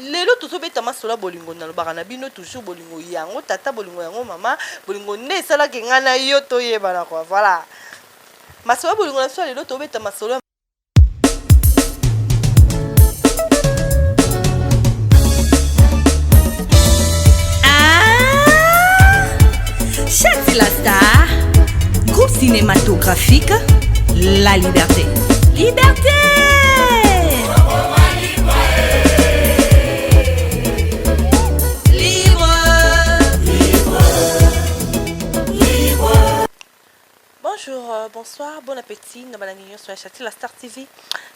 lelo tozobeta masolo ya bolingo nalobaka na bino toujours bolingo yango tata bolingo yango mama bolingo nde esalaki ngai na yo toyebana kua voilà masolo ya bolingo na biso ya lelo tobeta masolo Chati ah! la star, groupe cinématographique La Liberté. Liberté! bonsoir, bon appétit. Nous avons sur la chaîne la Star TV,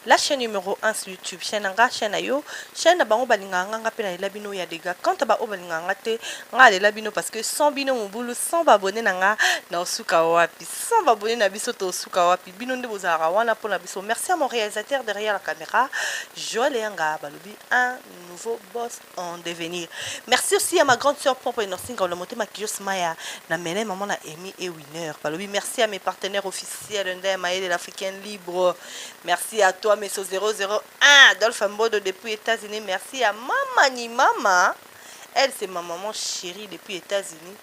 la chaîne numéro 1 sur YouTube. Chaîne Anga, chaîne Ayo, chaîne na bango balinga nga pe na labino ya dega. Quand ba o balinga nga te, nga le labino parce que sans bino mobulu, sans abonné na nga na osuka wapi. Sans abonné na biso to osuka wapi. Bino nde bozalaka wana po na biso merci à mon realisateur derrière la camera Joël Eyanga balobi un nouveau boss en devenir merci aussi à ma grande sœur Pompo Inosinga Ngaola Motema Kios Maya na Mele maman na Amy et Winner balobi merci à mes partenaires officiels Ndaya Mayele l'Africain libre merci à toi Meso 001 Dolph Mbodo depuis États-Unis merci à Mama ni Mama elle c'est ma maman chérie depuis États-Unis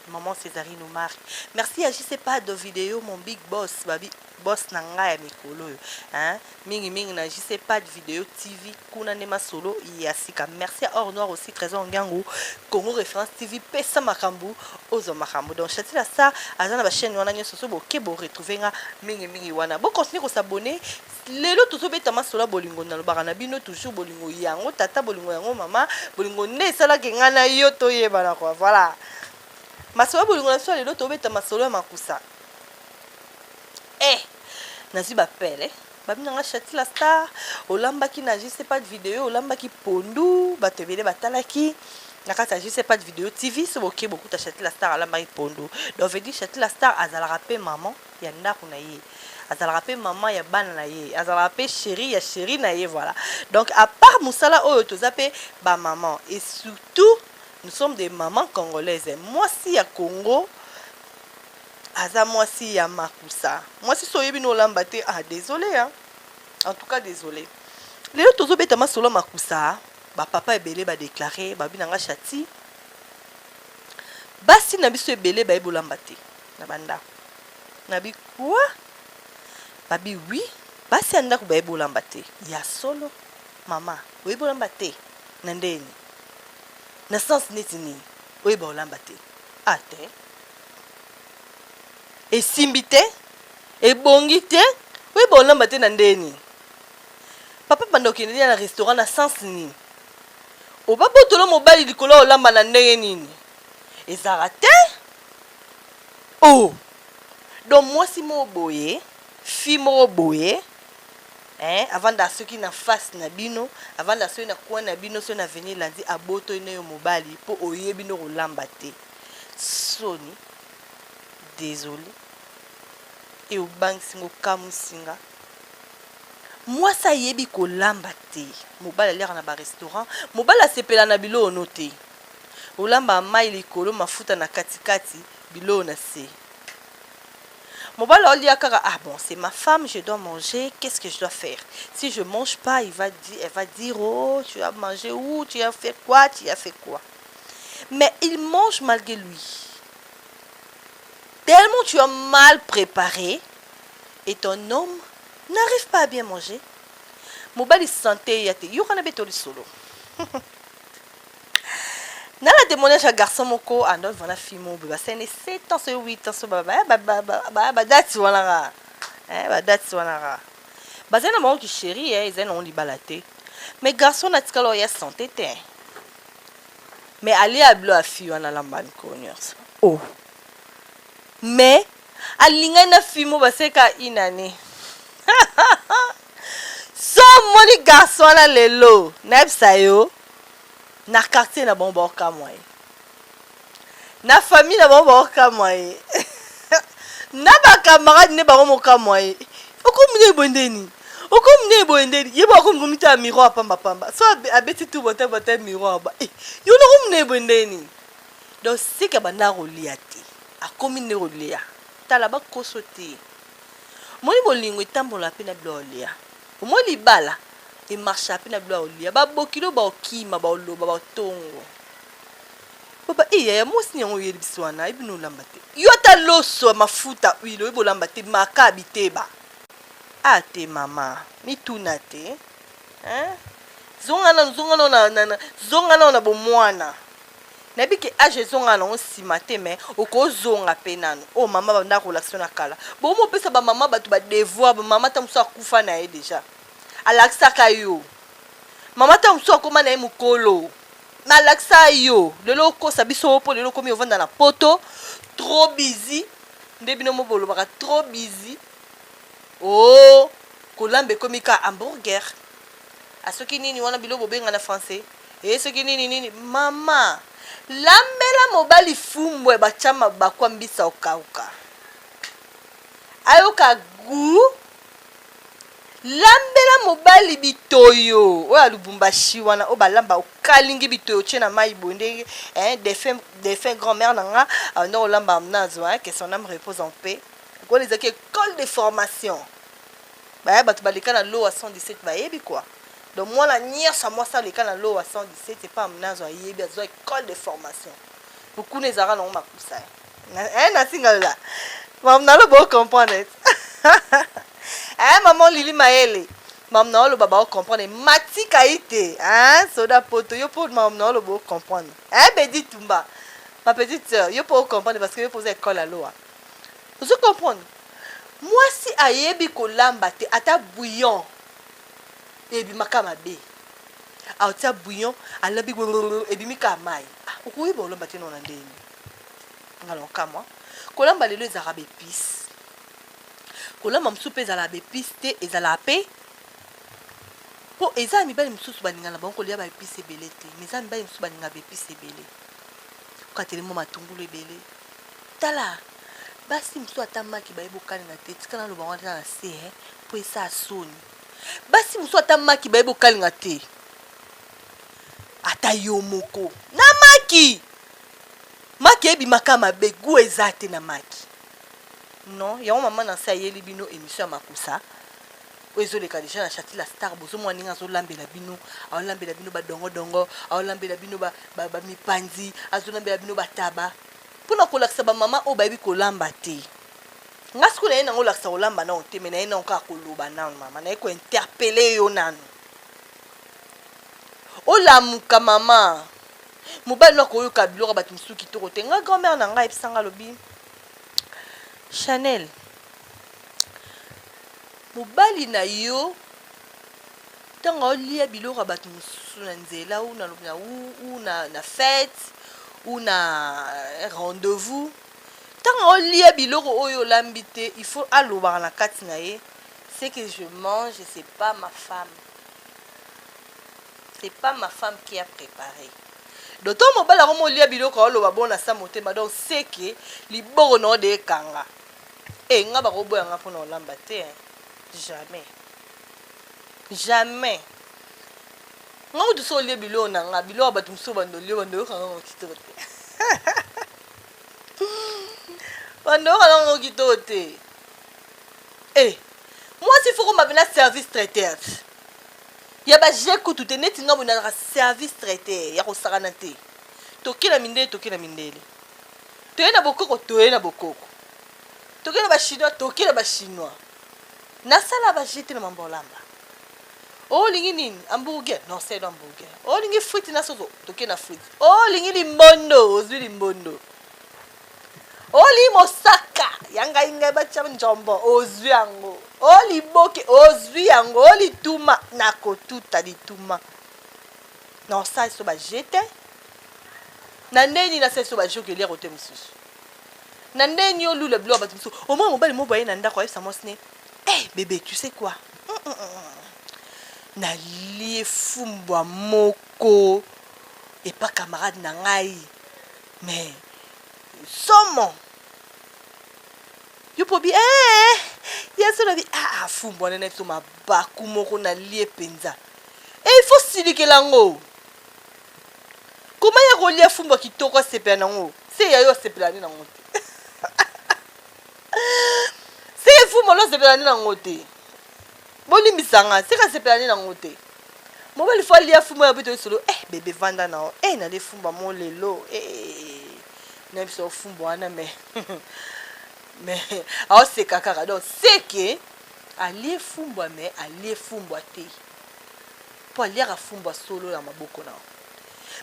Maman Cesarine Omari. Merci ya JC Pado video mon big boss babi boss na nga ya mikolo oyo hein mingi mingi na JC Pad video TV kuna nde masolo ya sika merci à Or Noir aussi Trésor Ngangu Congo Référence TV pesa makambo ozo makambo donc Chatila Star aza na ba chaîne wana nyonso so boke bo retrouver nga mingi mingi wana bo continuer ko s'abonner Lelo tozo beta masolo ya bolingo nalobaka na bino toujours bolingo yango tata bolingo yango mama bolingo nde esalaki ngai na yo toyebana kua voilà masolo ya bolingo na biso ya lelo tobeta masolo ya makusa eh nazwi bapele babina nga chatila star olambaki na je sais pas de video olambaki pondu bato ebele batalaki na kati ya je sais pas de video tv so boke bokuta chatila star alambaki pondu donc veut dire chatila star azalaka mpe maman ya ndaku na ye azalaka pe maman ya bana na ye azalaka pe cherie ya cherie na ye voilà donc à part musala oyo toza pe ba maman et surtout nous sommes des mamans congolaises mwasi ya Congo aza mwasi ya makusa mwasi so oyebi no olamba te ah désolé hein en tout cas désolé lelo tozo beta masolo makusa ba papa ebele ba déclarer ba bina nga chati basi na biso ebele bayebi olamba te na ba ndaku na bi quoi ba bi oui basi ya ndaku bayebi olamba te ya solo mama oyebi olamba te na ndeni na sens neti nini oyeba olamba te ah te esimbi te ebongi te oyeba olamba te na ndeni papa banda okende lia na restaurant na sens nini obabotolo mobali likolo ya olamba na ndenge nini ezala te Ooh donc mwasi moko boye fille moko boye eeh avanda soki na face na bino avanda soki na coin na bino soki na avenue Landy abotoli nayo mobali po oyebi nde kolamba te soni desole et obangisi nga okamwisi nga mwasi ayebi kolamba te mobali aliaka na ba restaurant mobali asepela na biloko no te. Olamba mayi likolo mafuta na kati kati biloko na se mobali aolia kaka ah bon c'est ma femme je dois manger qu'est-ce que je dois faire si je mange pas il va dire elle va dire oh tu as mangé où tu as fait quoi tu as fait quoi mais il mange malgré lui tellement tu as mal préparé et ton homme n'arrive pas à bien manger mobali sante ya te yokana be to lisolo na la témoignage ya garçon moko andoi wana fille moko boye basali ne 7 ans soyo 8 ans so badati wana kaka eh, badati wana kaka bazali na bango kisheri eh, ezali nango libala te mais garçon natikala oya sante te mais alia bilo ya fille wana alamba mikolo nyonso o oh. mais alingani na fille moko baseka une année so omoni garçon wana lelo nayebisa yo na quartier na bango baokamwa ye na famille na bango baokamwa ye na bakamarade nde bango mokamwa ye okomi nde boye nde nini okomi nde boye nde ye bo akomi komitala miroir pambapamba so abeti tu bota bota miroir ba eh, yo nakomi nde boye nde nini donc sika banda kolia te akomi nde kolia tala bakoso te omoni bolingo etambola mpe na biloko olia omoni libala emarchape na bilo aolia babokilo baokima baoloba baotongo baba e yaya mwasi ni yango oyeli biso wana ayebi nolamba te yo ata loso mafuta huile oyebi olamba te maka biteba a te mama mituna te hein? zonga nano zonga nao na, na, na, zonga nao na bomwana nayebi ke age ezonga nango nsima te mai okozonga mpe nano oyo oh, mama banda kolakisa na kala bomopesa bamama bato badevoir bamama ta mosusu akufa na ye deja alakisaka yo mama ntango mosusu akoma na ye mokolo mais alakisa yo lelo okosa biso mpo lelo okomi ovanda na poto trop busy nde bino mo bolobaka trop busy o oh, kolamba ekomi ka hamburger a ah, soki nini wana bilo bobenga na français e soki nini nini mama lambela mobali fumbwe batya mabakwa mbisa okauka ayoka gu lambela mobali bitoyo oyo ya lubumbashi wana oyo balamba okalingi bitoyo otie na mai boye ndenge eh, defunt, defunt grand mère na nga uh, ndenge olamba amnazo eh, que son âme repose en paix wana ezalaki école de formation baya bato baleka na lowa 117 bayebi kua donc mwana nyonso mwasi aleka na lowa 117 epa amnazo ayebi azwa école de formation mokuna ezalaka nango makusa Na- eh, nasingalola mam naloba ocomprendre eh, maman lili mayele mam naoloba baocomprendre matika ye te eh, soda poto yo mpo mam naoloba ocomprendre eh, bedi tumba ma petite sœur yo mpo ocomprendre parce que yo mpo oza ekole ya lowa ozo comprendre mwasi ayebi kolamba te ata bouillon ebimaka mabe aotia bouillon alambi ebimi kaka mai Ah, okoyeba olamba te nona ndenge nini nga na okamwa kolamba lelo ezalaka ba epice kolamba mosusu mpe ezalaka ba epice te ezalaka mpe mpo eza ya mibali mosusu balinga na bango kolia ba epice ebele te mais eza ya mibali mosusu balinga ba epice ebele okateli mwa matungulu ebele tala basi mosusu ata maki bayebi okalinga te tika naloba yango ata na se eh, mpo esaa soni basi mosusu ata maki bayebi okalinga te ata yo moko na maki Maki ebima ka mabe gout eza te na maki non yango mama na se ayeli bino emission ya makusa oyo ezoleka deja na chati la star bozomona ndenge azolambela bino aolambela bino badongodongo aolambela bino bamipanzi ba, ba azolambela bino bataba mpo na kolakisa bamama oyo bayebi kolamba te nga sikoyo naye nango olakisa kolamba nao te me naye nao kaka koloba nano mama naye kointerpele yo nano olamuka mama mobali no akoyoka biloko ya bato mosusu kitoko te ngai grand mare na ngai ayebisa ngai alobi chanel mobali na yo ntango aolia biloko ya bato mosusu na nzela u na, na, u, na, na fete u na eh, rendez-vous ntango aolia biloko oyo olambi te il faut alobaka na kati na ye ce que je mange c'est pas ma femme c'est pas ma femme qui a prepare donc to mobali yango molia biloko aoloba bo na sa motema donc seke liboko na ode ekanga e eh, nga bakoboya nga mpona olamba te jamais jamais nga kutu so olie biloko na nga biloko bato mosusu bando olio bando oyokanga ngo kitoko te bando oyokanga ngo kitoko te e eh, mwasi foko mabela service traiteurs Ya ba jeux kutu te neti nga boye nazalaka service traite ya kosakana te toke na mindele toke na mindele toye na bokoko toye na bokoko toke na ba chinois toke na ba chinois nasala ba jeux te na mambo olamba olingi nini hamburger non sedo hamburger olingi frite na soso toke na frite olingi limbondo ozwi limbondo oli mosaka ya ngai ngai batya njombo ozwi yango o liboke ozwi yango o lituma na kotuta lituma na osali so baje te na ndenge nini asali so baje okelia kote mosusu na ndenge nini olula biloko bato mosusu omoi mobali mo boye na ndako ayebisa mwasi ne e eh, bebe tu sais quoi mm, mm, mm, nalie fumbwa moko epa camarade na ngai Mais somo yo pobi ee ya solo bi ah, ah fumbu wana na biso mabaku moko na lie mpenza e il faut silikela yango koma ya kolia fumbu ya kitoko asepela na yango se ya yo asepela nde na yango te se fumbu alo asepela nde na yango te Bolimbisa nga se ka sepela ne nango te mobali faut alia fumbwa ya bito lisolo eh bebe vanda nao eh nale fumbwa mo lelo eh na biso fumbwa wana me me aoseka kaka donc seke alie fumbwa me alie fumbwa te mpo aliaka fumbwa solo na maboko nao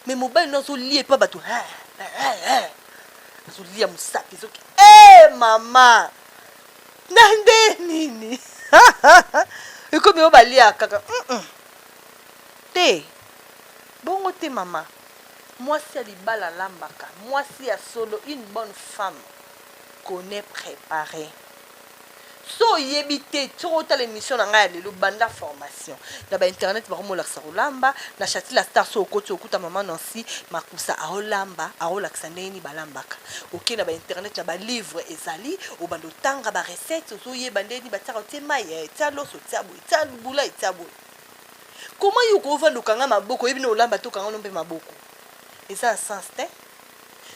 me mobali no azolie mpa bato azolia mosapi ezoki e mama na nde nini ekomi oyo balia kaka mm -mm. te bongo te mama mwasi ya libala alambaka mwasi ya solo une bonne femme connaît préparé so oyebi te soki otala émission na ngai ya lelo banda formation Nation na ba internet bako molakisa kolamba na chati la star so okoti okuta maman Nancy makusa aolamba aolakisa ndenge nini balambaka oke na ba internet na ba livre ezali obanda otanga ba recette ozoyeba ndenge nini batiaka otie mai eh, tia loso tia boye tia bula etia boye koma yo okovanda okanga maboko oyebi na olamba to okanga no mpe maboko eza na sens te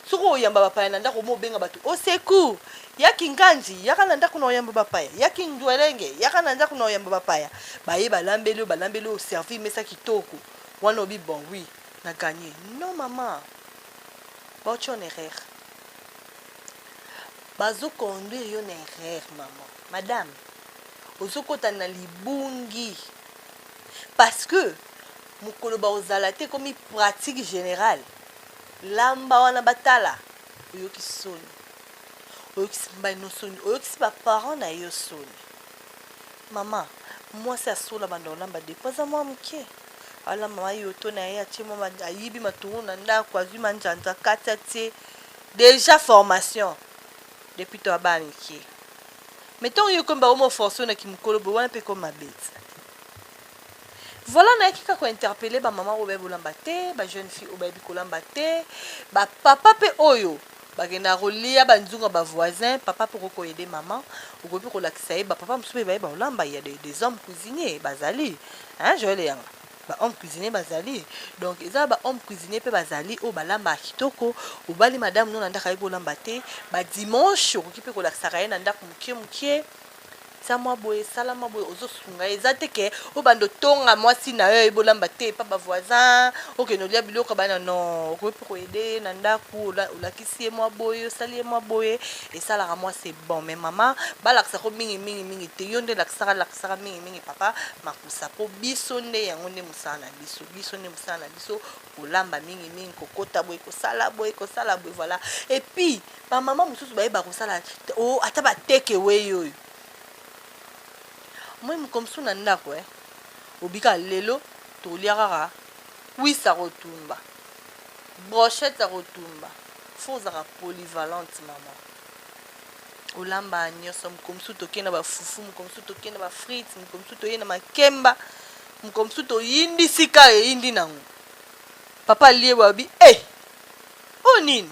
soki oyamba bapaya na ndako mo obenga bato au secours ya kinganzi yaka na ndako na oyamba bapaya ya kindwelenge yaka na ndako na oyamba bapaya baye balambeli oyo balambeli oyo servir mesa kitoko wana obi bon oui na gagne non mama baotia na erreur bazo conduire yo na erreur mama madame ozokota na libungi parce que mokolo bakozala te ekomi pratique générale Lamba wana batala oyoki soni oyokisi mbaino soni oyokisi ba parents na yo soni mama mwasi asolo abanda kolamba depo aza mwa moke alamba ma yoto na ye atie mwa ayibi matungulu na ndako azwi manjanja kati atie deja formation depuis to abana mike me ntango yo ekomi bakomi oforce yo na kimokolo boye wana mpe ekomi mabe Voilà nayaki kaka ko interpeller ba maman oyo bayebi kolamba te, ba jeunes filles oyo bayebi kolamba te, ba papa pe oyo bakendaka kolia ba nzungu ya ba voisins, papa pe okoki ko aider maman, okoki pe kolakisa ye ba papa mosusu pe bayeba kolamba, il ya des des hommes cuisiniers bazali hein Joël Eyanga, ba hommes cuisiniers bazali, donc eza ba hommes cuisiniers pe bazali oyo balambaka kitoko, obali madame no na ndaku ayebi kolamba te, ba dimanches okoki pe kolakisaka ye na ndaku mukie mukie, sa mwa boye sala mwa boye ozosunga ye eza te ke obanda otonga mwasi na yo ayebi olamba te epa bavoisin okende olia biloko ya bana no okoki mpe koyede ye na ndako olakisi ye mwa boye osali ye mwa boye esalaka mwasi ebon me mama balakisa ko mingi mingi mingi te yo nde lakisaka lakisaka mingi mingi papa makusa mpo biso nde yango nde mosala na biso biso nde mosala na biso kolamba mingi mingi kokota boye kosala boye kosala boye voilà epuis bamama mosusu bayeba kosala oh, ata bateke wei oyo moi mokomsu na ndako eh. obika lelo tolia kaka kwisi ya kotumba brochette ya kotumba fo ozaka polyvalente mama olamba nyonso mokolo mosusu tokei na bafufu mokolo mosusu tokei na bafrite mokolo mosusu toyei na makemba mokolo mosusu toyindi sika eyindi nango papa liye babi e eh, oyo nini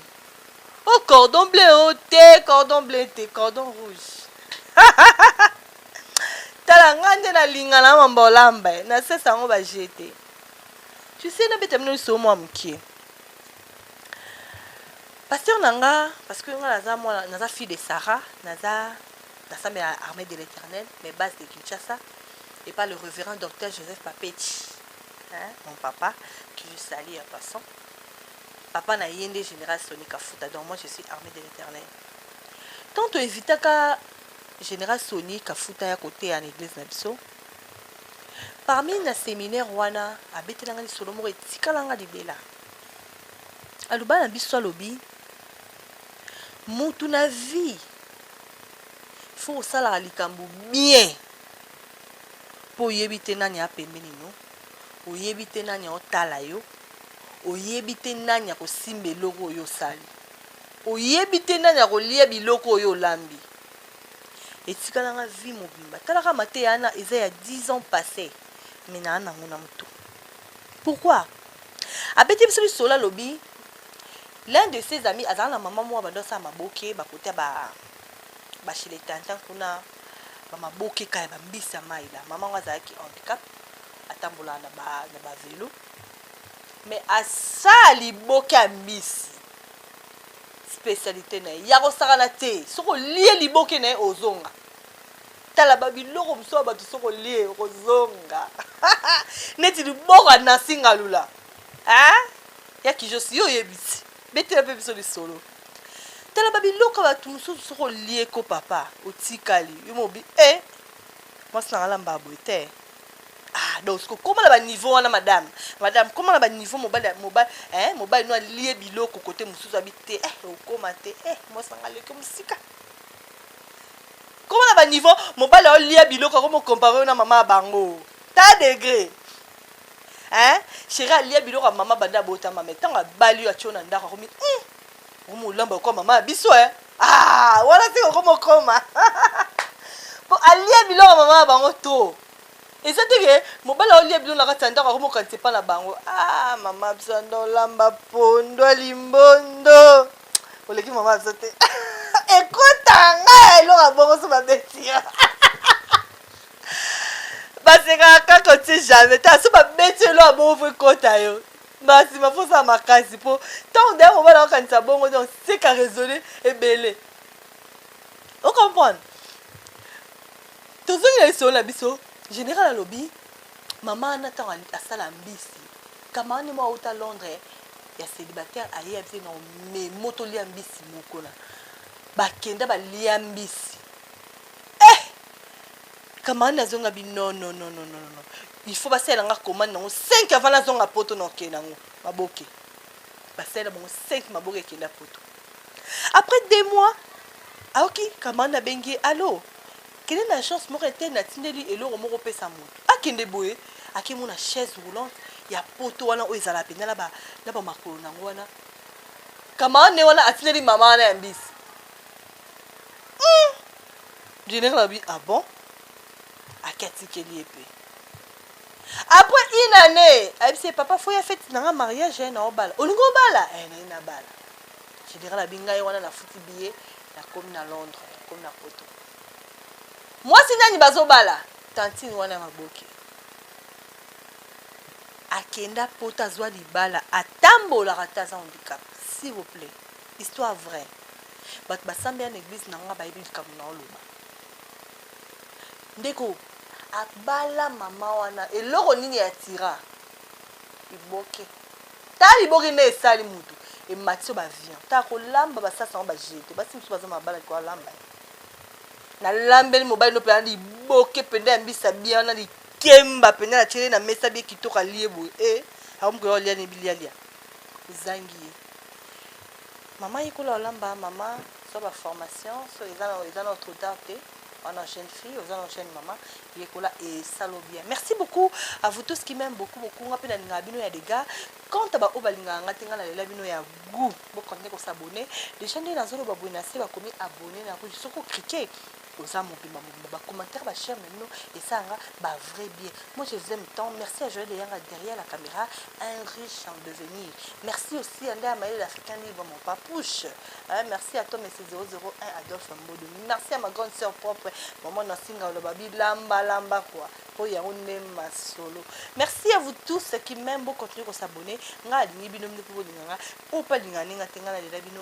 Oh cordon bleu oh te cordon bleu te cordon rouge tala nga nde nalinga na mamba olamba ye nasesa yango baje te tusi nabeta bino liso mwa moke paster na nga parce que nga naza mwana naza fille de sarah naza nasambela armée de l'éternel mais base de kinshasa et pas le révérend docteur joseph papeti hein, mon papa que je salie en passant papa na ye nde general soni kafuta donc moi je suis armee de l'eternel tant to evitaka general soni kafuta ya koteya na eglise na biso parmi na seminaire wana abetelanga lisolo moko etikalanga libela aloba na biso alobi mutu na vie fo kosalaka likambo bien mpo oyebi te nani apembeni no oyebi te nani aotala yo Oyebi te nani akosimba eloko oyo osali. Oyebi te nani akolia biloko oyo olambi. Etikala nga vie mobimba. Tala kaka mateya wana eza ya 10 ans passe mais naa nango na mutu. Pourquoi? Abeti biso lisolo alobi l'un de ses amis azala na maman moko bando asala maboke ba kota ba ba chez les tantins kuna ba maboke kaya ba mbisi ya mayi la maman ngo azalaki handicap atambolaka na ba na ba velo Mais asaa liboke ya mbisi specialite na ye yakosakana te soki olie liboke na ye ozonga tala ba biloko mosusu ya bato soki olie okozonga neti liboko ya nansi ngalula ya kijosi yo oyebisi betela mpe biso lisolo tala ba biloko ya bato mosusu soki olie ko papa otikali yo mobi e eh, mwasi na ngalamba boye te ah donc siko koma na baniveau wana madame madame koma na baniveau mobali mobali eh, mobali no alie biloko kote mosusu abi te eh, okoma te eh, mwasanga aleki mosika koma na baniveau mobali aolia biloko ako mokompare yo na mama ya bango ta degre eh, sheri alia biloko ya mama banda abotama me ntango abali yo atio na ndako akomi mm, Omo olamba lokola mama ya biso eh. Ah, wana se okoma okoma. Po alia biloko mama ya bango to. Eza te ke mobali aolia biloko na kati ya ndako akomokanisa epai na bango. Ah, mama biso anda olamba pondo ya limbondo. Oleki mama biso te. Ekota ngai eloko ya bongo so babeti yo. basekaka kaka otie jamais ta so babeti eloko ya bongo fo ekota yo mbala nsima fo osala makasi mpo ntango deya mobala akanisa bongo donc seka raisonne ebele o comprendre tozongi na lisolo na biso général alobi mama wana ntango asala mbisi kamarani moko auta londres ya célibataire aye ya biso na omemo tolia mbisi moko na bakenda balia mbisi Camarade na zonga bi non non non non non non. Il faut basalela nga commande nango 5 avant na zonga poto na okende nango maboke. Basalela bango 5 maboke ekenda poto. Après deux mois aoki camarade na bengi ye allo kende na agence moko ete natindeli eloko moko opesa moto akende boye akemona chaise roulante ya poto wana oyo ezala mpenza na ba- na bamakolo na yango wana camarade ne wana atindeli mama wana ya mbisi General alobi ah bon ake atikeli ye mpe après une année ayebisi ye papa foya fete na nga mariage eh, na obala olingi obala eh, naye nabala general abi ngai wana nafuti biye nakomi na londres nakomi na poto mwasi nani bazobala tantine wana ya maboke akenda poto azwa libala atambolaka te aza handicap s'il vous plaît Histoire vrai batu ba sambela na eglise na nga bayebi likambo na oloba ndeko abala mama wana eloko nini ya tira liboke ta liboke nde esali mutu emati yo bavion ta kolamba basasi yango bajete basi mosusu baza mabala likoa lamba ye nalambeli mobali ndo mpenza liboke mpenza ya mbisa bia wana likemba mpenza natieli na mesa bie kitoko alie boye e eh, akomi koya olia ne bilialia ezangi ye mama yekola olamba mama zwa ba formation so eza na eza na trop tard te wana jeune fille oza na jeune mama yekola esalo bien merci beaucoup à vous tous qui m'aime beaucoup beaucoup nga mpe nalingaka bino ya dega quant à baoyo balingaka nga te nga nalela bino ya gout bokontinue kosabone déjà nde nazoloba boye na se bakomi abone na soki okrike oza mobimba mobimba ba commentaire ba share na bino esanga ba vrai bien moi je vous aime tant merci à Joël Eyanga derrière la caméra un riche en devenir merci aussi à Ndaya Maël l'Africain libre mon papouche hein, merci à toi monsieur 001 Adolphe Mbodo merci à ma grande sœur propre maman Nasinga Oloba bilamba lamba quoi po yango nde masolo merci à vous tous qui même bo continuer ko s'abonner nga alingi bino bino pe bolinga nga oyo pe alingani nga te nga nalela bino